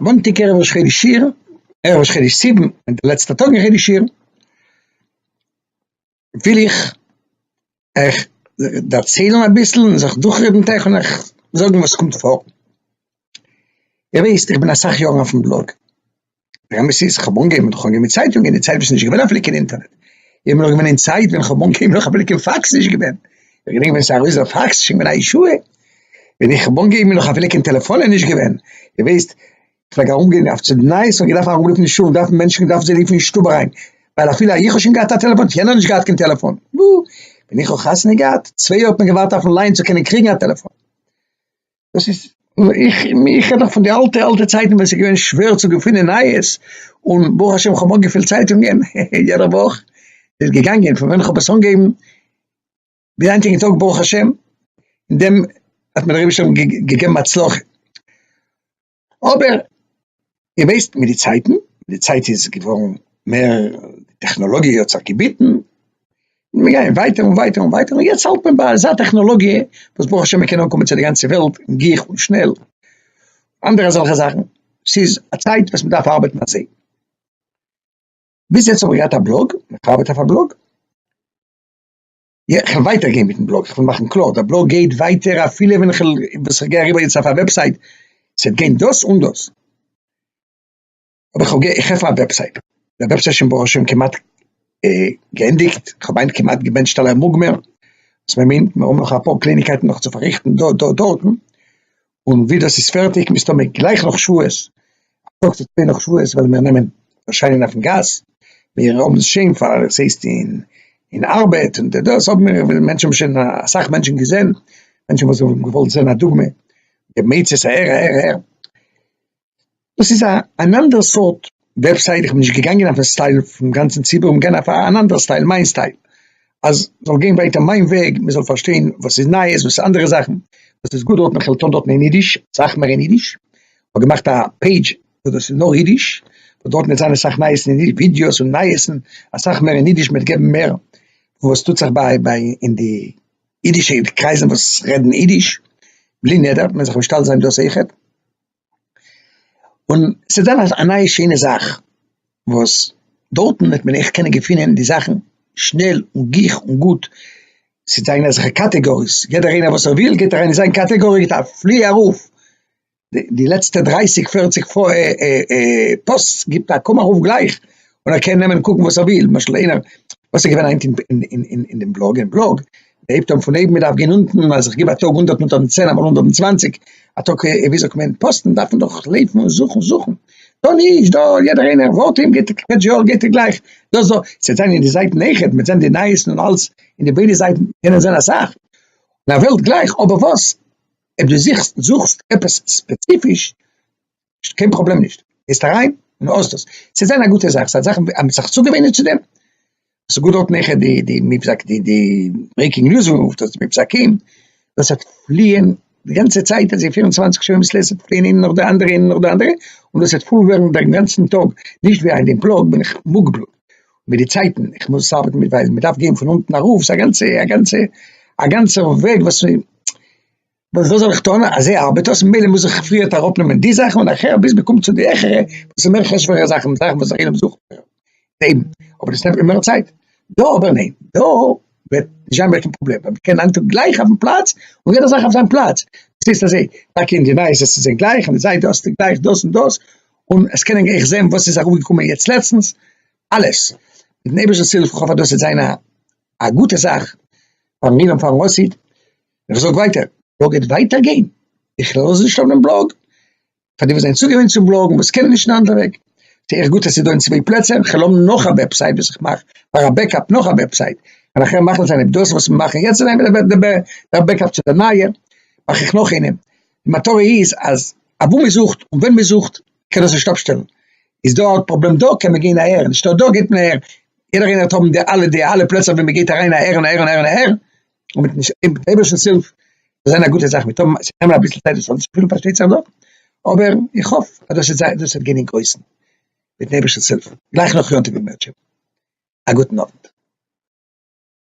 מאנטאג ערב ראש חודש אייר, ערב ראש חודש סיוון, און די לעצטע טאג אין חודש אייר, וויל איך אייך דערציילן אביסל און זיך דורכרעדן מיט אייך און אייך זאגן וואס קומט פאר. איר וויסט איך בין אסאך יארן אויפן בלאג. דער אמת איז, כ'האב אנגעהויבן מיט חנוכה מיט צייטונגען, אין די צייט וואס ס'נישט געווען אפי' קיין אינטערנעט, איך בין נאך געווען אין צייט ווען כ'האב אנגעהויבן נאך אפי' קיין פאקס נישט געווען, איך געדענק ווען ס'איז ארויס דער פאקס איז שוין געווען א ישועה, ווען איך האב אנגעהויבן איז נאך אפי' קיין טעלעפאנען נישט געווען, איר ווייסט, כ'פלעג ארום גיין אויף צו די נייעס און געדארפט ארום רופן שול, דארפן מענטשן געדארפט זיי רופן אין שטוב אריין, ווייל אפי' איך האב שוין געהאט א טעלעפאן האט יענער נישט געהאט קיין טעלעפאן, נו, ווען איך האב חתונה געהאט, צוויי יאר האט מען געווארט אויפן ליין צו קענען קריגן א טעלעפאן. דאס איז איך איך רעד נאך פון די אלטע אלטע צייטן ווען ס'איז געווען שווער צו געפינען נייעס, און ברוך השם כ'האב אנגעפילט צייטונגען יעדע וואך, ס'איז געגאנגען פון ווען כ'האב עס אנגעהויבן ביז היינטיגן טאג ברוך השם, אין דעם האט מיר דער אייבערשטער געגעבן הצלחה. אבער איר ווייסט מיט די צייטן, מיט די צייט איז געווארן מער, די טעכנאלאגיע האט זיך געביטן, מיר גייען ווייטער און ווייטער און ווייטער, און יעצט האלט מען ביי אזא טעכנאלאגיע וואס ברוך השם מען קען אנקומען צו די גאנצע וועלט אין גיך און שנעל, אנדערע אזעלכע זאכן, ס'איז א צייט וואס מען דארף ארבעטן אזוי. ביז יעצט האב איך געהאט א בלאג, איך ארבעט אויף א בלאג, יא, כ'וועל ווייטער גיין מיטן בלאג, כ'וועל מאכן קלאר, דער בלאג גייט ווייטער אפילו ווען כ'וועל, וואס כ'גיי אריבער יעצט אויף א וועבסייט, ס'וועט גיין דאס און דאס, אבער כ'וועל גיין, כ'עפן א וועבסייט, דער וועבסייט איז שוין ברוך השם כמעט געענדיגט, כ'מיין כמעט געבענטשט אלע מוגמר וואס מ'מיינט, מ'האב נאך אפאר קלייניגקייטן נאך צו פארריכטן דא דארט דארטן, און ווי דאס איז פערטיג מסתמא גלייך נאך שבועות, א טאג צו צוויי נאך שבועות וועלן מיר נעמען ערשיינען אויפן גאס, מיר האבן עס שוין פאר עס הייסט אין אין ארבעט און די דאס האבן מיר און מענטשן האבן שוין אסאך מענטשן געזען, מענטשן וואס האבן געוואלט זען א דוגמא, די מצות הער הער הער. דאס איז א אן אנדערע סארט וועבסייט, איך בין נישט געגאנגען אויפן סטייל פון גאנצן ציבור, כ'בין געגאנגען אויף אן אנדערע סטייל, מיין סטייל, אז זאל גיין ווייטער מיין וועג, מען זאל פארשטיין וואס איז נייעס, וואס איז אנדערע זאכן, וואס איז גוט דארטן, איך וועל טון דארטן אין אידיש, אסאך מער אין אידיש, כ'האב געמאכט א פעידזש וואס דאס איז נאר אידיש, וואס דארטן וועט זיין אסאך נייעסן אין אידיש, ווידיאוס און נייעסן, אסאך מער אין אידיש, מ'וועט געבן מער וואס טוט זיך ביי ביי אין די אידישע קרייזן וואס רעדן אידיש, בלי נדר, מען זאל זיך משתדל זיין דאס אויכעט. און ס'איז דאן א נייע שענע זאך וואס דארטן וועט מען עכט קענען געפינען די זאכן שנעל און גיך און גוט, ס'זענען אזעלכע קאטעגאריס, יעדער איינער וואס ער וויל גייט אריין אין זיין קאטעגארי געט א פלי ארויף, די לעצטע דרייסיג פערציג פאוסטס גיבט א קום ארויף גלייך, און ער קען נעמען און קוקן וואס ער וויל, למשל איינער, וואס איז געווען היינט אין די בלאג? מ'הייבט אן פון אויבן מ'דארף גיין אונטן, אז איך גיב א טאג הונדערט מאל טויזנט צען אמאל הונדערט און צוואנציג, א טאג ווי זאגט מען פאסטן דארף מען דאך לעבן און זוכן זוכן, דא נישט דא יעדער איינער ווארט אים געט ער קעטש יאר געט ער גלייך דאס דא, ס'וועט זיין אין די זייטן איכער מ'וועט זען די נייעסן און אלס אין די ביידע זייטן קען ער זען אסאך אין א וועלט גלייך אבער וואס אויב דו זוכסט זוכסט עפעס ספעציפיש נישט קיין פראבלעם נישט גייסט אריין און האסט עס צו זיין א גוטע זאך ס'איז א זאך אז מ'האט זיך צוגעוואינען צו דעם ס'איז גאר דארט נעכער די די מבזק די די ברעיקינג ניוז וואס מ'רופט עס מבזקים וואס האט פליען די גאנצע צייט אז זיי פירן צוואַנציק שעה אביסל עסן פליען איינע נאך די אנדערע איינע נאך די אנדערע און דאס וועט פול ווערן דעם גאנצן טאג נישט ווי היינט דעם פלאג בין איך מוגבל מיט די צייטן איך מוז עס ארבעטן מיט ווייל מ'דארף גיין פון אונטן ארויף ס'איז א גאנצע א גאנצע א גאנצער וועג וואס וואס זאל איך טון, אזוי ארבעט דאס, ממילא מוז איך פריערט אראפנעמען די זאכן און נאכער ביז מען קומט צו די העכערע וואס איז מער חשוב'ערע זאכן, זאכן וואס אחרים זוכן מער, און אבער דאס נעמט מיר מער צייט, דא אבער ניין, דא וועט נישט זיין מער קיין פראבלעם, ווייל מען קען היינט טאג גלייך אויפן פלאץ און יעדע זאך אויף זיין פלאץ, דאס הייסט אזוי, טאקע אין די נייעס עס איז זיי גלייך און די זיידע האסטו גלייך דאס און דאס, און עס קענען גלייך זען וואס איז אראפגעקומען יעצט לעצטנס, אלעס, מיטן אייבערשטנ'ס הילף, איך האף אז דאס וועט זיין א גוטע זאך פארן עולם פארן ראסיד. איך זאג ווייטער. בלאג גייט ווייטער גיין, איך לאז נישט אפ דעם בלאג, פאר די וואס זענען צוגעוואינט צום בלאגן וואס קענען נישט אין אנדערע וועג, זע איך גוט אז ס'איז דא אין צוויי פלעצער, כ'על האבן נאך א וועבסייט וואס איך מאך פאר א בעקאפ נאך א וועבסייט, און נאכער מאכן זיין אויב דאס וואס מיר מאכן יעצט איז אויב דער בעקאפ צו די נייע, מאך איך נאך איינעם, די מטרה איז אז אוואו מען זוכט און ווען מען זוכט קען דאס נישט אפשטעלן, איז דא א פראבלעם דא קען מען גיין אהער, נישטא דא גייט מען אהער, יעדער איינער האט האבן די אלע די אלע פלעצער ווי מען גייט אריין אהער און אהער און אהער און אהער, און מיט נישט אין אייבערשטנס הילף זאל זיין א גוטע זאך מיט האבן עס נעמען אביסל צייט דאס אנצופילן פארשטייט זיך דאך אבער איך האף אז דאס איז דאס וועט גיין אין גרויסן מיטן אייבערשטנס הילף גלייך נאך יום טוב אין מערטשעוו א גוטן אוונט.